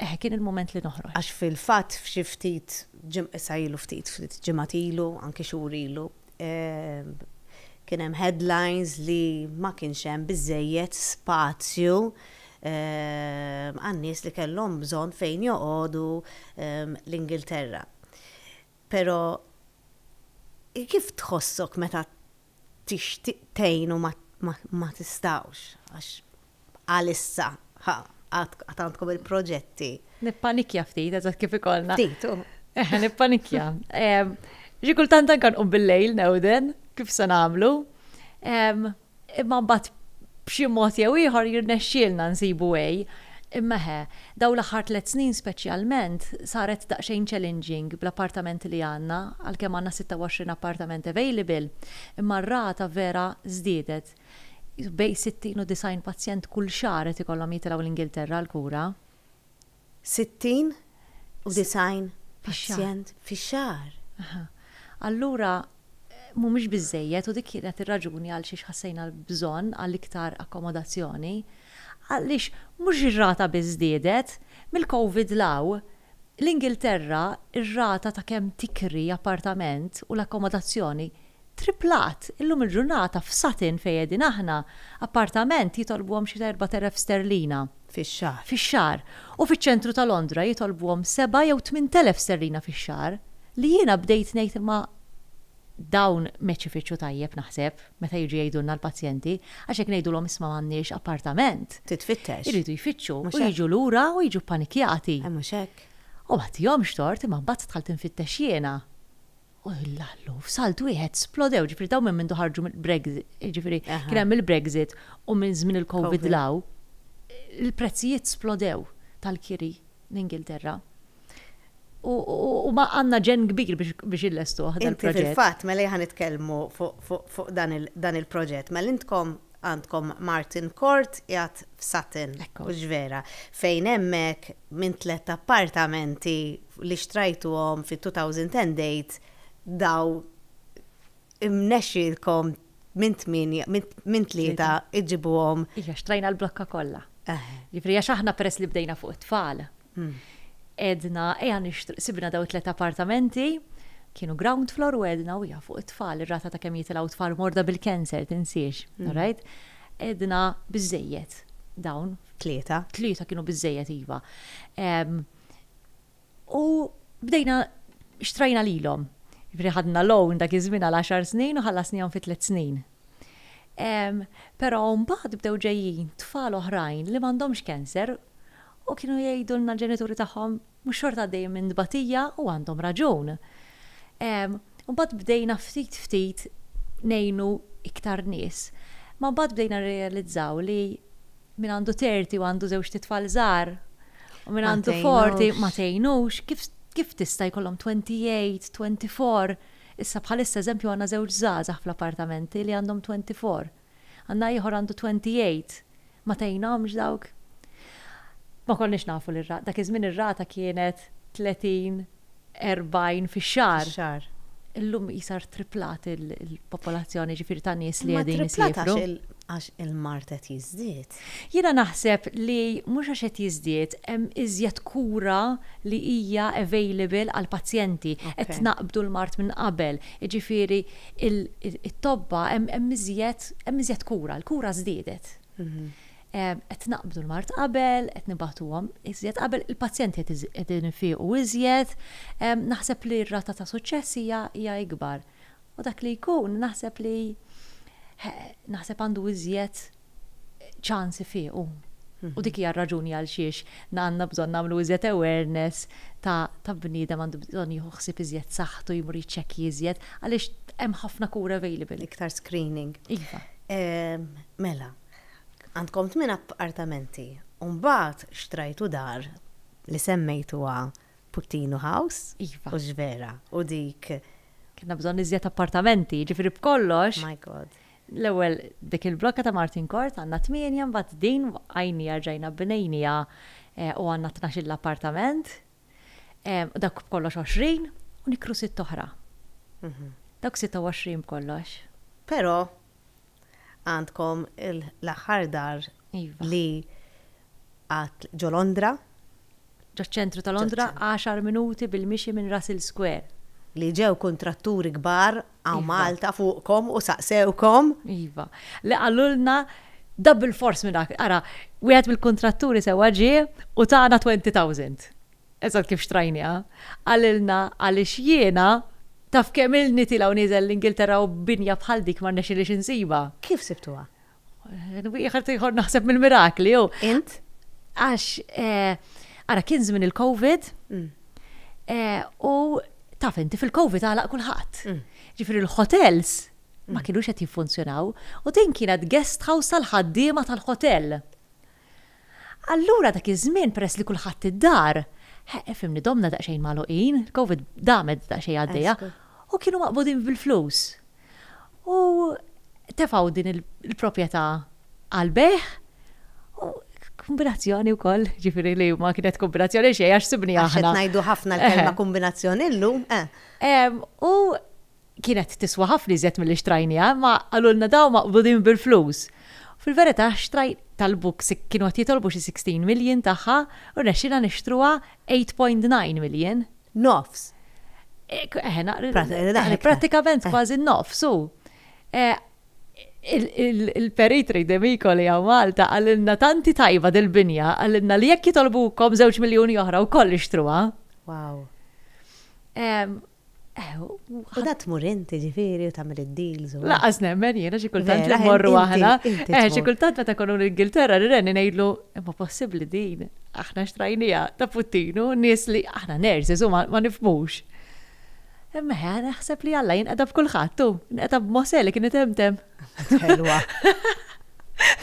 B: eħe kien il-mument li noħroġ. Għax fil-fatt f'xi
A: ftit ġim issa ilu ftit, ftit ġimgħat ilu, anki xhur ilu, Kien hemm headlines li ma kienx hemm biżżejjed spazju għan-nies li kellhom bżonn fejn joqogħdu l-Ingilterra. Però kif tħossok meta tixtieq tgħin u ma tistgħux għax Għalissa, ħa, għad għandkom il-proġetti. Nippanikja
B: ftit, eżatt kif ikollna. Ftit, u. Eħe,
A: nippanikja.
B: Ġi kultant anka nqum bil-lejl newden, kif se nagħmlu. Imma mbagħad b'xi mod jew ieħor jirnexxielna nsibu way. Imma eħe, dawn l-aħħar tliet snin speċjalment saret daqsxejn challenging bl-appartamenti li għandna, għalkemm għandna 26 appartament available, imma r-rata vera żdiedet. Bejn 60 u 90 pazjent kull xahar qed ikollhom jitilgħu l-Ingilterra għall-kura. 60
A: u 90 pazjent fix-xahar. Aha.
B: Allura mhumiex biżżejjed u dik kienet ir-raġuni għalxiex ħassejna l-bżonn għal iktar akkomodazzjoni. Għaliex mhux ir-rata biss żdiedet, mill-Covid 'l hawn, l-Ingilterra r-rata ta' kemm tikri appartament u l-akkomodazzjoni Triplat, illum il-ġurnata f'Sutton fejn qegħdin aħna, appartament jitolbuhom xi ta' erbat elef sterlina. Fix-xahar.
A: Fix-xahar.
B: U fiċ-ċentru ta' Londra jitolbuhom seba' jew tmint elef sterlina fix-xahar. Li jiena bdejt ngħid imma dawn m'qed ifittxu tajjeb naħseb meta jiġu jgħidulna l-pazjenti għax jekk ngħidulhom isma' m'għandniex appartament. Titfittex. Iridu
A: jfittxu.
B: U jiġu lura u jiġu ppanikjati. Mhux hekk.
A: U m'għattihomx
B: tort imma mbagħad dħalt infittex jiena. U l-allu, f'salt wieħed splodew, ġifieri dawn minn mindu ħarġu mill-Brexit, ġifieri kien hemm il-Brexit u minn żmien il-COVID 'l hawn, il-prezzijiet splodew tal-kiri l-Ingilterra. U għandna ġenn kbir biex illestuh dan il-proġett. Inti fil-fatt, mela jien ħa
A: nitkellmu fuq dan il-proġett, mela intkom Għandkom Martin Court qiegħed f'Sutton, mhux vera, fejn hemmhekk minn tlett appartamenti li xtrajtuhom fit-2008 daw imnexxielkom minn tmienja, minn tlieta iġġibuhom. Iva, xtrajna l-blokka
B: kollha. Jiġifieri għax aħna peress li bdejna fuq it-tfal, Għedna, ejja nixtru, sibna daw tliet appartamenti, kienu ground floor u għedna u jafu it-tfal, ir-rata ta' kemm jitilgħu tfal morda bil-cancer, tinsiex, mm. right? Għedna biżejjed dawn. Tlieta. Tlieta kienu biżejjed iva. U bdejna xtrajna lilhom. Ġifieri ħadna loan dak iż-żmien għal 10 snin u ħallasnihom fi tliet snin. Però mbagħad bdew ġejjin tfal oħrajn li m'għandhomx cancer u kienu jgħidulna l-ġenituri tagħhom mhux xorta għaddejjin minn tbatija u għandhom raġun. U mbagħad bdejna ftit ftit ngħinu iktar nies. Ma mbagħad bdejna nirrealizzaw li min għandu terti u għandu żewġt itfal żgħar u min għandu forti ma tgħinux kif tista' jkollhom 28, 24 Issa bħalissa eżempju għandna żewġ żgħażagħ fl-appartamenti li għandhom twenty four. Għandna ieħor għandu twenty eight. Ma tgħinhomx dawk? Ma konniex nafu li r-rata, dak iż-żmien ir-rata kienet tletin, erbgħin fix-xahar. Fix-xahar. Illum qisha rtriplat il-popolazzjoni ġifieri ta' nies li qegħdin isiefru. Imma triplat għax il-mard qed
A: jiżdied. Jiena naħseb
B: li mhux għax qed jiżdied, hemm iżjed kura li hija available għall-pazjenti, qed tnaqqbdu l-mard minn qabel, jiġifieri t-tobba hemm iżjed hemm iżjed kura, l-kura żdiedet. Qed tnaqqbdu l-mard qabel, qed nibagħtuhom iżjed qabel, il-pazjenti qed qegħdin ifiqu iżjed, naħseb li r-rata ta' suċċess hija hija ikbar. U dak li jkun naħseb li naħseb għandu iżjed, ċans ifiequ. U dik hija r-raġuni għal xiex għandna bżonn nagħmlu iżjed awareness ta' ta' bniedem għandu bżonn jieħu ħsieb iżjed saħħtu, jmur jiċċekkji iżjed, għaliex hemm ħafna kura available. Iktar screening.
A: Iva. Mela, għandkom tmien appartamenti u mbagħad xtrajtu dar li semmejtuha Puttinu House iva. u Xvera
B: u
A: dik Kellna bżonn
B: iżjed appartamenti, jiġifieri b'kollox. My God.
A: L-ewwel
B: dik il-blokka ta' Martin Court għandna tmienja, mbagħad din waqqajnija rġajna bnejniha u għandna tnax-il appartament. Dawk b'kollox għoxrin u nikru sitt oħra. Dawk sitta u għoxrin b'kollox. Però
A: għandkom l-aħħar dar iva. li għad ġo Londra. ġaċ-ċentru
B: ta' Londra, għaxar minuti bil-mixi minn Russell Square. Li ġew
A: kuntratturi kbar hawn Malta fuqkom u saqsewkom. Iva.
B: Li qalulna da bilfors minn hawn. Ara, wieħed mill-kuntratturi sewwa ġie u tana twenty thousand. Eżatt kif xtrajniha. Qalilna għaliex jiena taf kemm ilni tiela' u nieżel l-Ingilterra u binja bħal dik ma rnexxielix insibha. Kif sibtuha?
A: Wieħed
B: ieħor naħseb mill-mirakli jew. Int?
A: Għax
B: eh, ara kien żmien il-COVID mm. eh, u taf inti fil-COVID għalaq kulħadd. Mm. Ġifieri l-hotels ma mm. kienux qed jiffunzjonaw u din kienet guest house tal-ħaddiema tal-hotel. Allura dak iż-żmien peress li kulħadd id-dar, fimni domna daqsxejn magħluqin, il-Covid damet daqsxejn għaddejja, u kienu maqbudin bil-flus. U tefgħu din il-proprjetà għall-bejgħ u kombinazzjoni wkoll, ġifieri li ma kienet kombinazzjoni xejn għax sibni aħna. Qed ngħidu ħafna l-kelma
A: kombinazzjoni llum, eh. U
B: Kienet tiswa ħafna iżjed milli xtrajniha, imma qalulna dawn maqbudin bil-flus. Fil-verità xtrajt talbu kienu qed jitolbu xi sixteen million tagħha u rnexxielna nixtruha eight point nine million. Nofs. Prattikament kważi n-nofs, u il-perit Ray D'Amico li hawn Malta qalilna tanti tajba dil-binja, qalilna li jekk jitolbukom żewġ miljuni oħra wkoll ixtruha. Wow.
A: U da tmur inti ġifiri u tagħmel id-deals u. Laqas nemmen jiena
B: xi kultant li mmorru aħna. Eh, xi kultant meta konu l-Ingilterra r-renni ngħidlu imma possibbli din aħna xtrajnija ta' puttinu nies li aħna nerżi żuma ma nifmux. Imma ħa naħseb li Alla jinqeda b'kulħadd tu, inqeda b'Mose li kien itemtem.
A: Ħelwa.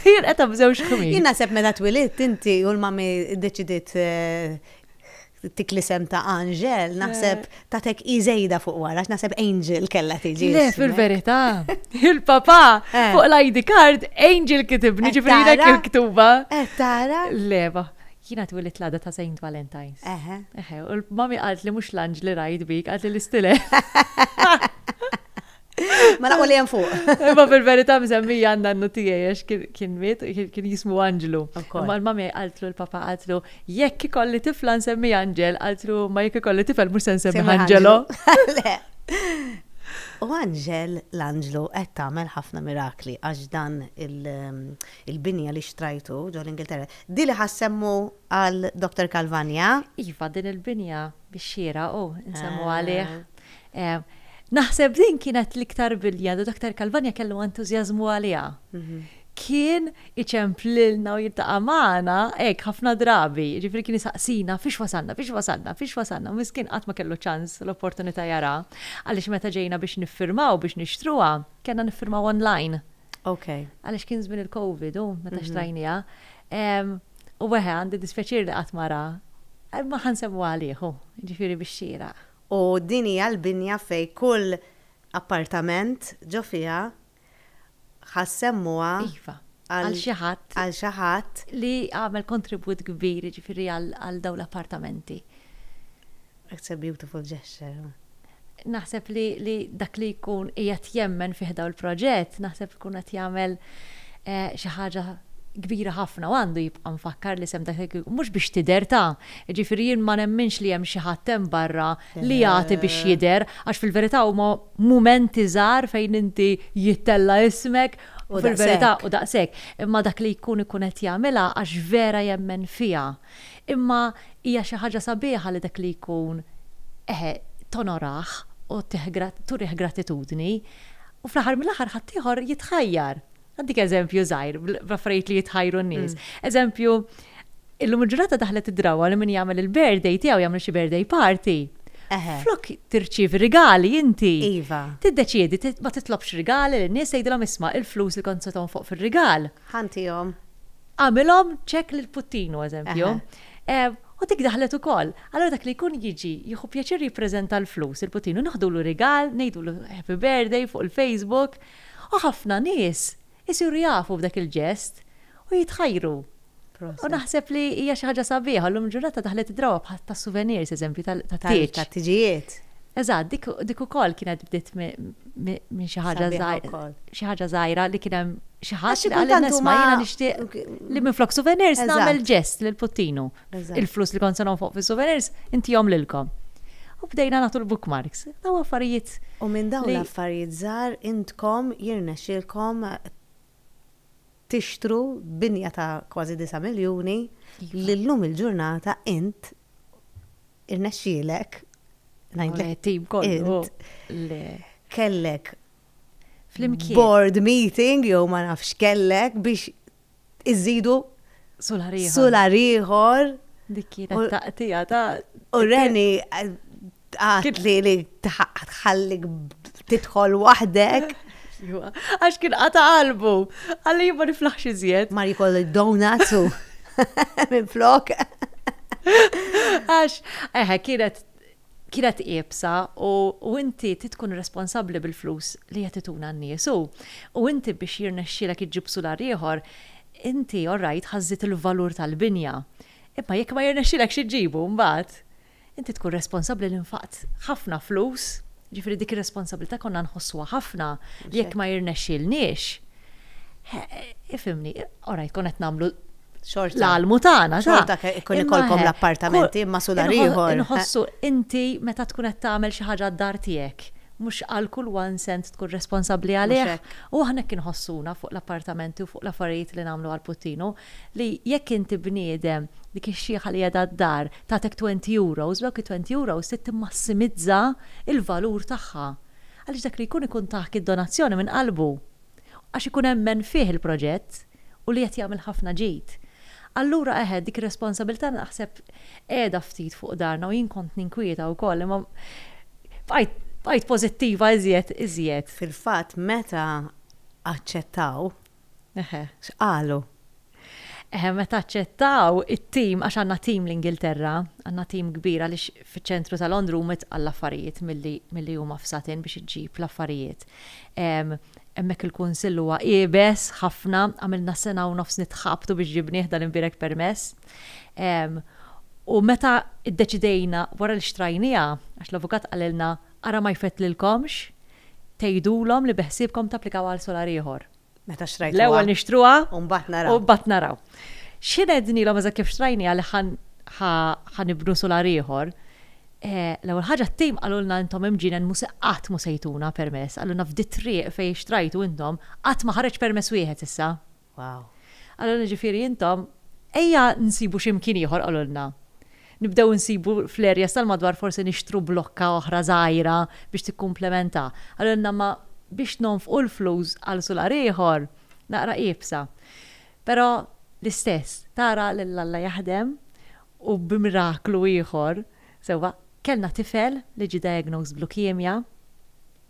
B: Jinqeda b'żewġ ħmir. Jien naħseb meta twilit
A: inti u l-mami deċidiet eh, Dik l-isem ta' Anġel, naħseb tatek i żejda fuq wara, għax naħseb Angel kellha tiġi. Le, fil-verità,
B: il-papa eh. fuq l-ID card Angel kitibni eh, ġifri dak il-ktuba. Eh, tara?
A: Leva,
B: jina twilit l-għada ta' Saint Valentine's. Eħe. Eħe, u l-mami għalt li mux l-anġli rajt bik, għalt li l-istile. Ma naqwa
A: li jem fuq. Ma fil-verita
B: mżemmija għanna n nutijaj, għax kien mit, kien jismu Anġlu. Ma l-mamja għaltlu l-papa għaltlu, jekk ikolli tifla nsemmi Anġel, għaltlu ma jekk ikolli tifel mux nsemmi Anġelo.
A: U Anġel l-Anġlu qed tagħmel ħafna mirakli għax dan um, il-binja li xtrajtu ġol Ingilterra. Dili ħassemmu għal Dr. Kalvania? Iva, din il-binja
B: bix-xieraq u nsemmu għalih. Naħseb din kienet l-iktar bilja li Dottor Calvagna kellu entużjażmu għaliha. Kien iċemp lilna u jiltaqa' magħna hekk ħafna drabi, jiġifieri kien isaqsina fiex wasalna, fiex wasalna, fiex wasalna, miskien qatt ma kellu ċans l-opportunità jaraha, għaliex meta ġejna biex niffirmaw biex nixtruha, kellna niffirmaw online. Okay. Għalix
A: kien żmien
B: il-Covid u meta mhm. xtrajnija. U weħe għandi dispjaċir li qatt mara. Ma ħansemmu għaliħu, ġifiri biex xira. U din hija
A: l-binja fej kull appartament ġo fiha ħassemmuha. Iva. Għal xi
B: ħadd. Għal xi ħadd. Li għamel kontribut kbir ġifiri għal dawn l-appartamenti.
A: It's a beautiful gesture. Naħseb
B: li li dak li jkun qiegħed jemmen fih dawn il-proġett naħseb ikun qed jagħmel xi ħaġa kbira ħafna u għandu jibqa' mfakkar li sehem dak li mhux biex tidher ta'. Jiġifieri jien ma nemminx li hemm xi ħadd hemm barra li jagħti biex jidher għax fil-verità huma mumenti żgħar fejn inti jittella' ismek u fil-verità u daqshekk. Imma dak li jkun ikun qed jagħmilha għax vera jemmen fiha. Imma hija xi ħaġa sabiħa li dak li jkun, eħe, tonorah u turih gratitudni, u fl-aħħar mill-aħħar ħaddieħor jitħajjar. Ngħaddik eżempju żgħir bl-affarijiet li jitħajru n-nies. Eżempju, illum il-ġurnata daħlet id-drawwa li min jagħmel il-birthday tiegħu jagħmel xi birthday party. Flok tirċievi rigali inti, tiddeċiedi
A: ma
B: titlobx rigali lin-nies tgħidilhom isma' il-flus li kont se tonfoq fir-rigal. Ħa ntihom.
A: Għamilhom
B: ċekk lil Puttinu, eżempju, u dik daħlet ukoll. Allura dak li jkun jiġi, jieħu pjaċir jippreżenta l-flus lil Puttinu, naħdulu rigal, ngħidulu happy birthday fuq il-Facebook, u ħafna nies isiru jafu b'dak il-ġest u jitħajru. U naħseb li hija xi ħaġa sabiħa u llum il-ġurnata daħlet id-drawwa tas-souvenirs, eżempju, tat-tieġ. Tat-tiġijiet.
A: Eżatt, dik,
B: dik ukoll kienet bdiet minn xi ħaġa żgħira. Xi ħaġa żgħira li kien hemm xi ħadd li qal nies ma jiena nixtieq li minn flok souvenirs nagħmel ġest lil puttinu. Il-flus li kont se fuq fis-souvenirs intihom lilkom. U bdejna nagħtu l-bookmarks. Daw affarijiet. U minn dawn
A: l-affarijiet żgħar intkom jirnexxilkom tixtru binja ta' kważi 9 miljuni li llum il-ġurnata int irnexxielek ngħidlek tim kollu kellek flimkien board meeting jew ma nafx kellek biex iżidu sular ieħor. Dik kienet
B: taqtija ta' u Reni
A: Għad li li tħallik titħol wahdek. Għax
B: kien għata qalbu. Għalli jibba niflaħx iżjed. Mar jikoll donuts
A: u minn flok. Għax,
B: eħe, kienet kienet iebsa u inti titkun responsabli bil-flus li jatituna n-nies u u inti biex jirnexxilek iġġib sular ieħor, inti orrajt ħazzit il-valur tal-binja. Imma jekk ma jirnexxilek xi ġibu mbagħad. Inti tkun responsabbli li nfaqt ħafna flus, jiġifieri dik ir-responsabbiltà konna nħossuha ħafna li jekk ma jirnexxielniex, ifhimni, orajt konna qed nagħmlu l-almu tagħna. Xorta jkun ikollkom
A: l-appartamenti imma sudar ieħor. Inħossu inti
B: meta tkun qed tagħmel xi ħaġa d-dar tiegħek, mhux għal kull one cent tkun responsabbli għalih. U aħna hekk inħossuna fuq l-appartamenti u fuq l-affarijiet li nagħmlu għall-puttinu. li jekk inti bniedem, dik ix-xiħa li qiegħda d-dar tagħtek twenty euros, dawk it-twenty euros trid timmassimizza l-valur tagħha. Għaliex dak li jkun ikun tagħk id-donazzjoni minn qalbu. Għax ikun emmen fih il-proġett u li qed jagħmel ħafna ġid. Allura eħe, dik ir-responsabilità naħseb qiegħda ftit fuq darna u jien kont ninkwieta wkoll imma bqajt bqajt pożittiva iżjed iżjed. Fil-fatt meta
A: aċċettaw Eħe, x'qalu?
B: Eħe, meta aċċettaw it-tim, għax għandna tim l-Ingilterra, għandna tim kbir għaliex fiċ-ċentru ta' Londra huma tqal l-affarijiet milli milli huma f'Sutton biex iġġib l-affarijiet. Hemmhekk il-kunsill huwa iebes ħafna, għamilna sena u nofs nitħabtu biex ġibnieh dan imbierek permess. U meta ddeċidejna wara li xtrajniha, għax l-avukat qalilna Ara ma jfettlilkomx tgħidulhom li beħsiebkom tapplikawha għal solar ieħor. Meta xtrajtuha. L-ewwel
A: nixtruha.
B: U mbagħad naraw. U
A: mbagħad naraw.
B: Xi ngħidnilhom eżatt kif xtrajniha li ħa nibnu solar ieħor. L-ewwel ħaġa t-tim qalulna intom imġienen mhu se qatt mhu se jtuna permess. Qalulna f'di t-triq fejn xtrajtu intom qatt ma ħareġ permess wieħed issa. Wow.
A: Qalulna jiġifieri
B: intom, ejja nsibu xi mkien ieħor qalulna. Nibdew insibu fl-areas tal-madwar forsi nixtru blokka oħra żgħira biex tikkumplementa. Qalulna ma biex nonfqu l-flus għal sular ieħor naqra iebsa. Però l-istess tara lil Alla jaħdem u bi miraklu ieħor sewwa kellna tifel li ġie diagnosed b'leukemia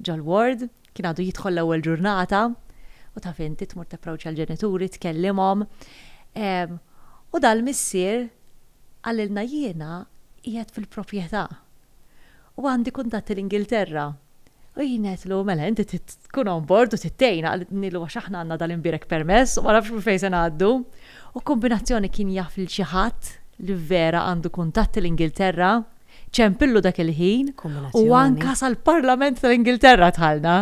B: ġol-ward, Kien għadu jidħol l-ewwel ġurnata u taf inti tmur tapproċċa l-ġenituri, tkellimhom. U dal-missier qalilna jiena qiegħed fil-proprjetà u għandi kuntatti l-Ingilterra. U jien għedtlu, mela, inti tkun on board u tittejna, għalnilu għax aħna għandna dal-imbirek permess u ma nafx minn fejn se ngħaddu. U kombinazzjoni kien jaf lil xi ħadd li vera għandu kuntatti l-Ingilterra. Ċempillu dak il-ħin u anka sal-Parlament tal-Ingilterra dħalna.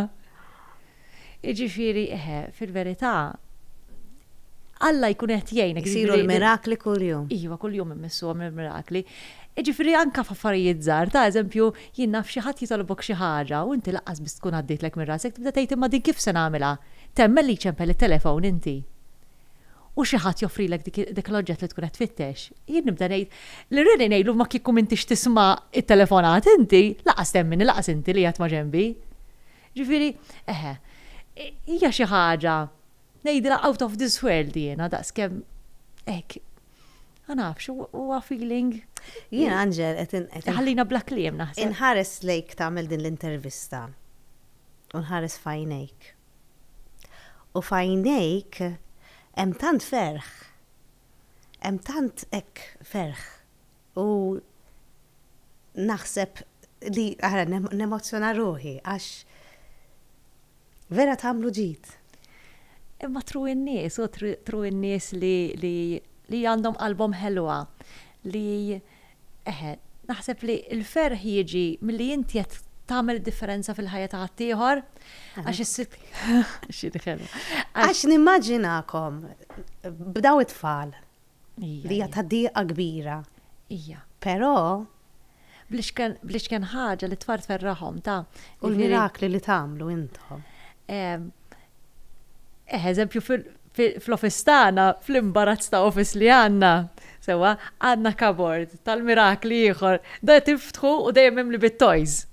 B: Jiġifieri, eħe, fil-verità, Alla jkun qed jgħinek. Isiru l-mirakli
A: kuljum. Iva, kuljum immissuhom
B: il-mirakli. Jiġifieri anka f'affarijiet żgħar, ta' eżempju, jien naf xi ħadd jitolbok xi ħaġa u inti laqqas biss tkun għaddejtlek minn rasek tibda tgħid imma din kif se nagħmilha? Temmen li jċempel it-telefon inti. u xi ħadd joffrilek dik dik l-oġġett li tkun qed tfittex, jien nibda ngħid, li rrid ngħidlu ma kieku m'intix tisma' t-telefonat inti, lanqas temmini lanqas inti li qiegħed ma' ġenbi. Ġifieri, eħe, hija xi ħaġa, ngħidilha out of this world jiena daqskemm hekk, ma nafx, huwa feeling. Jien Anġel
A: qed in- qed in- Iħallina bla kliem
B: naħseb. Inħares lejk
A: tagħmel din l-intervista u nħares f'għajnejk U f'għajnejk hemm tant ferħ, hemm tant hekk ferħ u naħseb li ara nemozzjona ruħi għax vera tagħmlu ġid. Imma
B: tru n-nies, u tru n-nies li għandhom qalbhom ħelwa, li Eħe, naħseb li l-ferħ jiġi milli inti qed tagħmel differenza fil-ħajja ta' ħaddieħor għax is-sit. Għax
A: nimmaġinakom b'daw it-tfal li hija ta' diqa kbira. Ija.
B: Però bl-ixken ħaġa li t-tfal tferraħhom ta' u l-mirakli
A: li tagħmlu intom.
B: Eh, eżempju fl-office tagħna, fl-imbarazz ta' office li għandna, sewwa, għandna kabord tal-mirakli ieħor, da tiftħu u dejjem mimli bit-toys.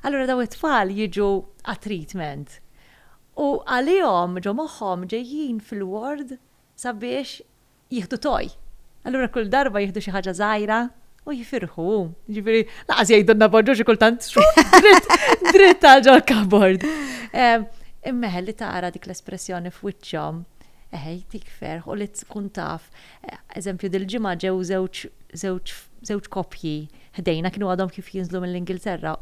B: Allura daw it-tfal jiġu għat-treatment. U għalihom ġo moħħhom ġejjin fil-ward sabiex jieħdu toy. Allura kull darba jieħdu xi ħaġa żgħira u jifirħu. Ġifieri, laqas jgħidulna bonġu xi kultant dritt għal ġol kabord. Ehm, Immeħel li tara dik l-espressjoni f'wiċċhom, eħej, tik ferħ u li tkun taf. Eh, eżempju, dil-ġimgħa ġew żewġ koppji ħdejna kienu għadhom kif jinżlu mill-Ingilterra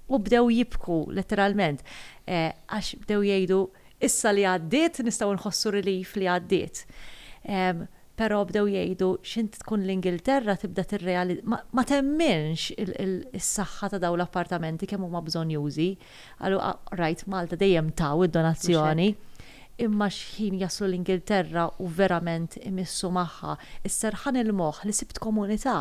B: u bdew jibku letteralment eh, għax bdew jgħidu Issa li għaddiet nistgħu nħossu relief li għaddiet. Però bdew jgħidu x'int tkun l-Ingilterra tibda tirreali ma temminx is-saħħa ta' dawn l-appartamenti kemm huma bżonjużi. Qalu rajt Malta dejjem taw id-donazzjoni. Imma x'ħin jaslu l-Ingilterra u verament imissu magħha. Is-serħan il-moħħ li sibt komunità.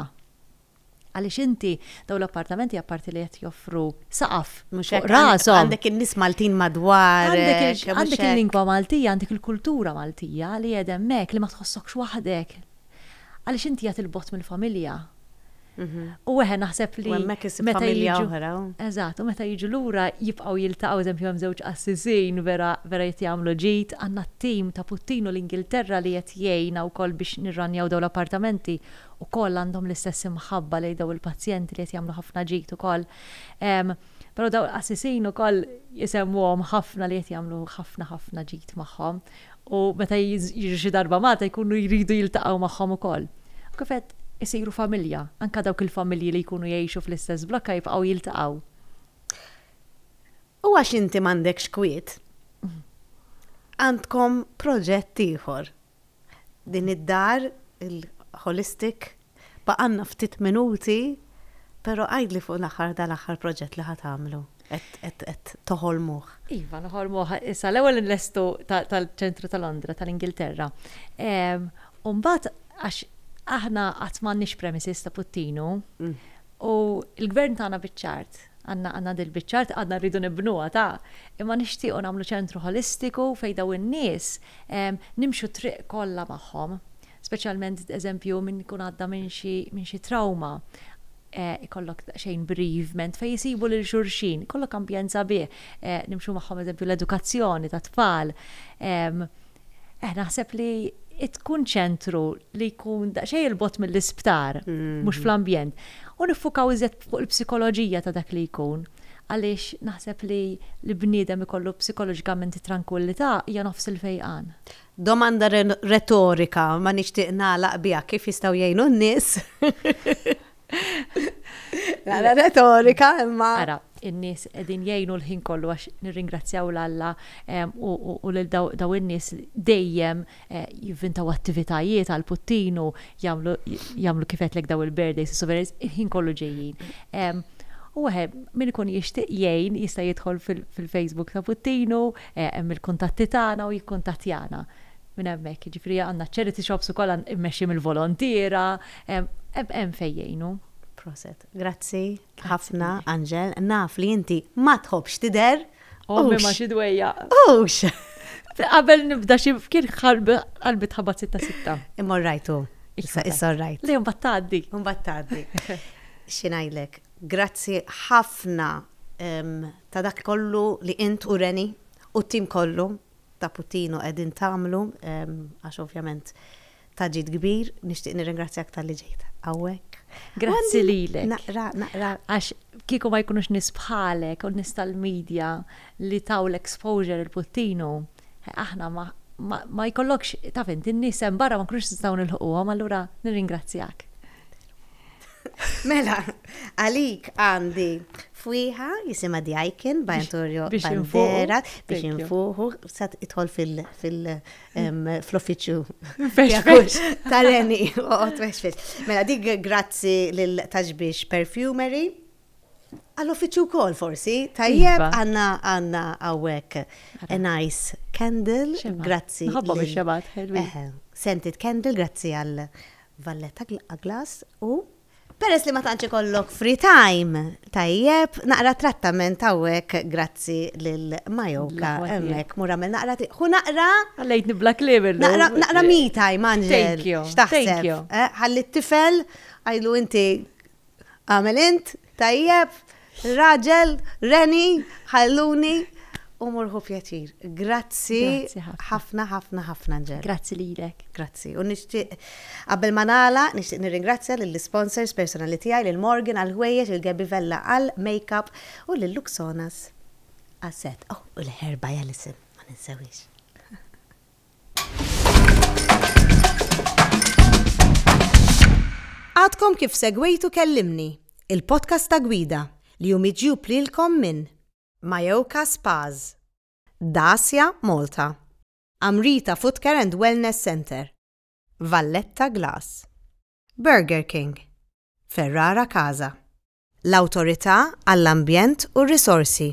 B: Għaliex inti dawn l-appartamenti apparti li qed joffru saqaf mhux hekk rashom. Għandek in-nies Maltin
A: madwar. Għandek il-lingwa
B: Maltija, għandek il-kultura Maltija li qiegħda hemmhekk li ma tħossokx waħdek. Għaliex inti qiegħed il-bogħod mill-familja. Mhm. U weħe naħseb li. Hemmhekk is familja
A: oħra. Eżatt, u meta
B: jiġu lura jibqgħu jiltaqgħu eżempju hemm żewġ qassisin vera vera qed jagħmlu ġid, għandna t-tim ta' Puttinu l-Ingilterra li qed jgħinna wkoll biex nirranjaw dawn l-appartamenti ukoll għandhom l-istess imħabba lejn dawn il-pazjenti li qed jagħmlu ħafna ġid ukoll. Però dawn il-qassisin ukoll isemmuhom ħafna li qed jagħmlu ħafna ħafna ġid magħhom u meta jiġu xi darba Malta jkunu jridu jiltaqgħu magħhom ukoll. U kif għedt, isiru familja, anke dawk il-familji li jkunu jgħixu fl-istess blokka jibqgħu jiltaqgħu.
A: U għax inti m'għandekx kwiet, għandkom proġett ieħor Din id-dar, il-Holistic, baqgħalna ftit minuti, però għidli fuq l-aħħar dal-aħħar proġett li ħa tagħmlu, qed toħolmuh. Iva, noħolmuh
B: issa l-ewwel inlestu tal-ċentru ta' Londra, tal-Ingilterra. U mbagħad għax aħna qatt m'għandniex premises ta' puttinu, U l-Gvern tagħna biċ-ċart, għandna għandna dil-biċ-ċart, għadna rridu nibnuha ta', imma nixtiequ nagħmlu ċentru ħolistiku fejn dawn in-nies nimxu t-triq kollha magħhom, speċjalment eżempju min ikun għadda minn xi minn xi trawma, ikollok daqsxejn bereavement fejn isibu lil xulxin, ikollok ambjent sabiħ, nimxu magħhom eżempju l-edukazzjoni tat-tfal, Eh naħseb li tkun ċentru li jkun daqsxejn il-bot mill-isptar, mm. mhux fl-ambjent. U niffukaw iżjed fuq il-psikoloġija ta' dak li jkun. Għaliex naħseb li l-bniedem ikollu psikoloġikament tranquillità hija nofs il-fejqan. Domanda
A: retorika ma nixtieq nagħlaq biha kif jistgħu jgħinu n-nies. Għara retorika imma. Għara, in-nies
B: qegħdin jgħinu l-ħin kollu għax nirringrazzjaw l-Alla u lil daw in-nies dejjem eh, jivvintaw attivitajiet għal puttinu jagħmlu kif qedlek daw il-birthdays souvenirs il-ħin kollu ġejjin. U għahe, min ikun jixtieq jgħin jista' jidħol fil-Facebook ta' Puttinu, eh, hemm il-kuntatti tagħna u jikkuntattjana. minn hemmhekk, jiġifieri għandna charity shops ukoll immexxi mill-volontiera, hemm fejn jgħinu. Proset.
A: Grazzi ħafna, Anġel. Naf li inti ma tħobbx tidher. Ommi ma xi
B: dwejjaq. Hux!
A: Qabel
B: nibda xi kien qalbi tħabbat sitta sitta. Imma rajtu.
A: Issa issa rajt. Le mbagħad tgħaddi. Mbagħad
B: tgħaddi.
A: Xi ngħidlek, grazzi ħafna ta' dak kollu li int u Reni u t-tim kollu ta' Puttino qegħdin tagħmlu għax ovvjament ta' ġid kbir. Nixtieq nirringrazzjak talli ġejt hawnhekk. Grazzi
B: lilek. Naqra, naqra. Għax
A: kieku
B: ma jkunux nies bħalek u nies tal-media li taw l-exposure il-Puttino, aħna ma ma jkollokx taf int in-nies hemm barra ma nkunux nistgħu nilħquhom allura nirringrazzjak.
A: Mela, għalik għandi fwiħa jisima di Aiken, Bajantorio Bandera, biex infuħu, sat itħol fil-uffiċju. Tareni, u għotwex Mela, dik grazzi l-taġbiex perfumery. Għall-uffiċju kol forsi, tajjeb iva. għanna għanna għawek a nice candle, grazzi. Għabba biex xabat,
B: Scented
A: candle, grazzi għal Valletta Glass u Peress li ma tantx ikollok free time tajjeb, naqra trattament hawnhekk grazzi lil Mayoka hemmhekk mur għamilt naqra triq. Ħu naqra Ħallejtni bla kliem
B: illum. Naqra me time
A: Anġel. Thank you. X'taħseb? Thank you. Ħalli t-tifel, għidlu inti Għamel int, tajjeb, raġel, reni, ħalluni, u murħu pjaċir. Grazzi ħafna, ħafna, ħafna ġer. Grazzi lilek.
B: Grazzi. U nixtieq
A: qabel ma nagħla, nixtieq nirringrazzja lill-sponsors personali tiegħi lil Morgan għal ħwejjeġ, il Gabby Vella għal makeup u lil Luxonas għas-set. Oh, u l-ħerba jgħal isim, ma ninsewhiex. Għadkom kif segwejtu Kellimni, il-podcast ta' gwida li hu miġjub lilkom minn Mayoka Spas, Dacia Malta, Amrita Footcare and Wellness Centre, Valletta Glass, Burger King, Ferrara Casa, l-Awtorità għall-Ambjent u r-Risorsi.